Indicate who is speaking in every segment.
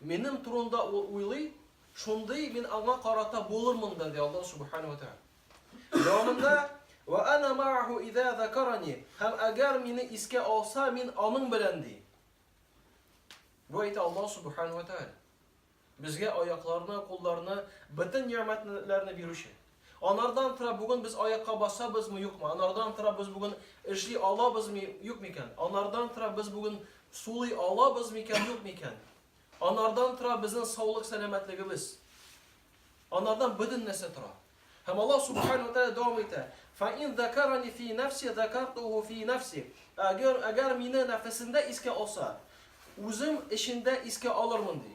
Speaker 1: Минем турында ул уйлый, шундый мин аңа карата булырмын да, ди Аллаһ Субхана ва Тәгалә. Дәвамында, Вә ана мааху иза закарани, һәм әгәр мине искә алса, мин аның белән, ди. Бу әйтә Аллаһ Субхана ва Тәгалә. Безгә аякларны, кулларны, бөтен нигъмәтләрне бирүче. Анардан тора бүген без аякка басабызмы, юкмы? Анардан тора без бүген эшли алабызмы, юк микән? Анардан тора без бүген сулый алабыз микән, юк микән? Анардан тора безнең саулык сәламәтлегебез. Анардан бөтен нәрсә тора. Һәм Аллаһ субхану тәгалә дәвам итә. Фа ин закарани фи нафси закартуху фи нафси. Әгәр әгәр мине нәфесендә искә алса, үзем эчендә искә алырмын ди.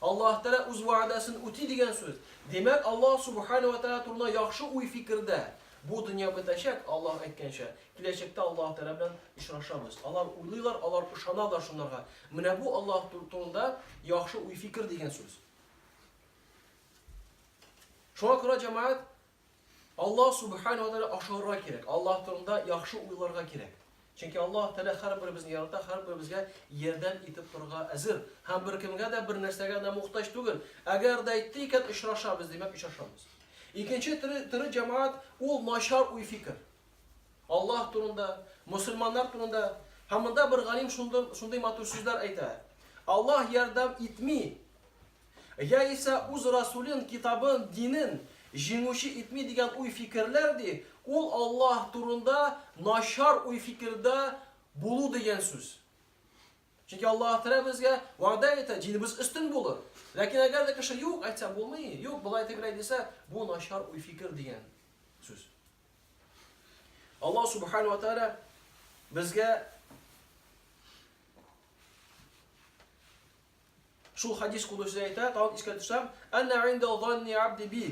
Speaker 1: Аллаһ Тәгалә үз вәгъдәсен үти дигән сүз. Димәк, Аллаһ Субханаһу ва Тәгалә турында яхшы уй-фикердә. Бу дөнья бетәчәк, Аллаһ әйткәнчә, киләчәктә Аллаһ Тәгалә белән очрашабыз. Алар уйлыйлар, алар ышаналар шунларга. Менә бу Аллаһ турында яхшы уй-фикер дигән сүз. Шуңа күрә, җәмәгать, Аллаһ Сүбхәнәһү вә Тәгалә ошарга кирәк. Аллаһ турында яхшы уйларга кирәк. Чөнки Аллаһ Тәгалә һәрберебезне ярата, һәрберебезгә ярдәм итеп торырга әзер. Һәм беркемгә дә, бернәрсәгә дә мохтаҗ түгел. Әгәр дә әйтте икән, очрашабыз, димәк, очрашабыз. Икенче төре, төре җәмәгать, ул начар уй-фикер. Аллаһ турында, мөселманнар турында. Һәм монда бер галим шундый, шундый матур сүзләр әйтә. Аллаһ ярдәм итми, Яисә үз Расулен, китабын, динен җиңүче итми дигән уй-фикерләр ди, ул Аллаһ турында начар уй-фикердә булу дигән сүз. Чөнки Аллаһ Тәгалә безгә вәгъдә итә, динебез өстен булыр. Ләкин әгәр дә кеше юк әйтсә, булмый, юк, болай-тегеләй дисә, бу начар уй-фикер дигән сүз. Аллаһ Субхана ва Тәгалә безгә Шул хәдис кулучысы әйтә, тагын искә төшәм, Әнә инда занни абди би.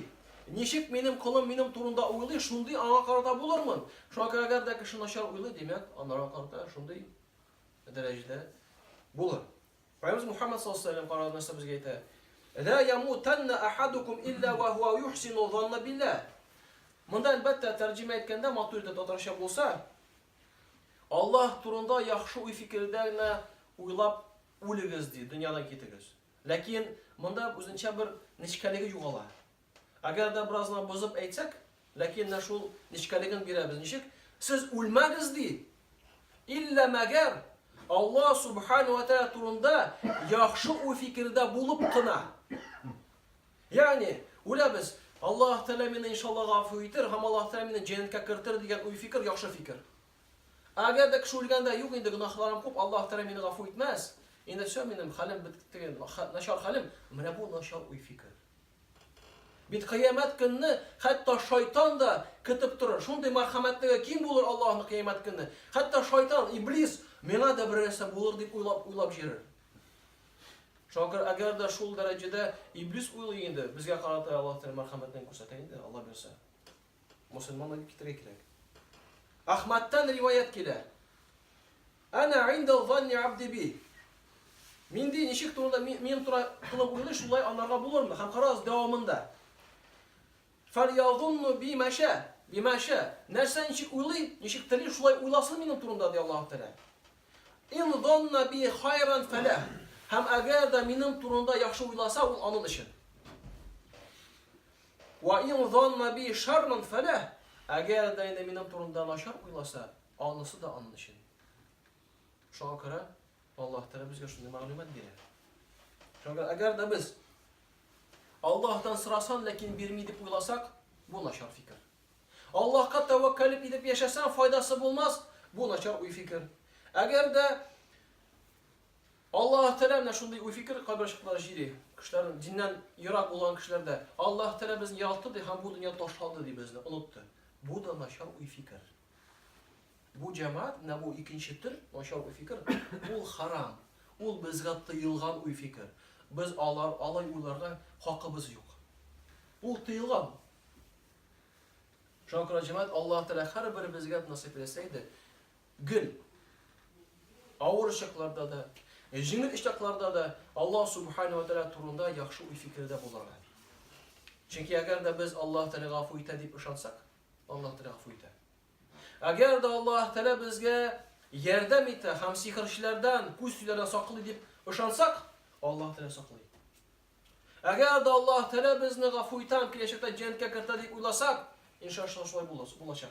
Speaker 1: Ничек минем колым минем турында уйлый, шундый аңа карата булырмын. Шуңа күрә әгәр дә кеше начар уйлый, димәк, анарга карата шундый дәрәҗәдә булыр. Пәйгамберебез Мухаммад саллаллаху алейһи ва сәлләм карагыз нәрсә безгә әйтә. Ла ямутанна ахадукум илля ва хуа юхсину занна билла. Монда әлбәттә тәрҗемә әйткәндә матур итеп татарча булса, Аллаһ турында яхшы уй фикердә генә уйлап Үлегез, ди, дөньядан китегез. Ләкин монда үзенчә бер нечкәлеге югала. Әгәр дә бераз гына бозып әйтсәк, ләкин менә шул нечкәлеген бирәбез. Ничек? Сез үлмәгез, ди. Иллә мәгәр Алла субхану ва тәгалә турында яхшы уй фикердә булып кына. Ягъни, үләбез, Аллаһ Тәгалә мине иншалла гафу итер һәм Аллаһ Тәгалә мине җәннәткә кертер дигән уй фикер яхшы фикер. Әгәр дә кеше үлгәндә, юк инде, гөнаһларым күп, Аллаһ Тәгалә мине гафу итмәс, инде все, минем хәлем бетте, начар хәлем, менә бу начар уй-фикер. Бит кыямәт көнне хәтта шайтан да көтеп торыр. Шундый мәрхәмәтлеге ким булыр Аллаһның кыямәт көнне. Хәтта шайтан, иблис, миңа да бер нәрсә булыр дип уйлап уйлап җирер. Шакыр, әгәр дә шул дәрәҗәдә иблис уйлый инде, безгә карата Аллаһ Тәгалә мәрхәмәтен күрсәтә инде, Аллаһ бирсә. Мосылман дип китерергә кирәк. Ахмадтан риваять килә. Ана инда ванни абди би. Минди ничек турында минем тура кылып уйлый, шулай анарга булырмы? Һәм карагыз дәвамында. Фальязунну би маша, би маша. Нәрсә ничек уйлый, ничек тели, шулай уйласын минем турында ди Аллаһ Тәгалә. Ин зонна би хайран фәлә. Һәм әгәр дә минем турында яхшы уйласа, ул аның өчен. Вә ин занна би шарран фәләһ, әгәр дә инде минем турында начар уйласа, анысы да аның өчен. Шуңа күрә Аллаһ Тәгалә безгә шундый мәгълүмат бирә. Шуңа әгәр дә без Аллаһтан сорасам, ләкин бирми дип уйласак, бу начар фикер. Аллаһка тәвәккәл итеп яшәсәң, файдасы булмас, бу начар уй фикер. Әгәр дә Аллаһ Тәгалә менә шундый уй-фикер кайбер чаклар җири. Кешеләр диннән ерак булган кешеләр дә Аллаһ Тәгалә безне яратты ди һәм бу дөнья ташлады ди безне, онытты. Бу да начар уй-фикер. Бу җәмәгать, менә бу икенче төр начар уй-фикер, ул харам. Ул безгә тыелган уй-фикер. Без алар алай уйларга хакыбыз юк. Ул тыелган. Шуңа күрә җәмәгать Аллаһ Тәгалә һәрберебезгә насыйп итсә иде, Гел, авыр чакларда да, җиңел очракларда да Аллаһ Субхана ва Тәгалә турында яхшы уй-фикердә булырга. Чөнки әгәр дә без Аллаһ Тәгалә гафу итә дип ышансак, Аллаһ Тәгалә гафу итә. Әгәр дә Аллаһ Тәгалә безгә ярдәм итә һәм сихерчеләрдән, күз тиләрдән саклый дип ышансак, Аллаһ Тәгалә саклый. Әгәр дә Аллаһ Тәгалә безне гафу итә һәм киләчәктә җәннәткә кертә дип уйласак, иншаллаһ шулай булачак.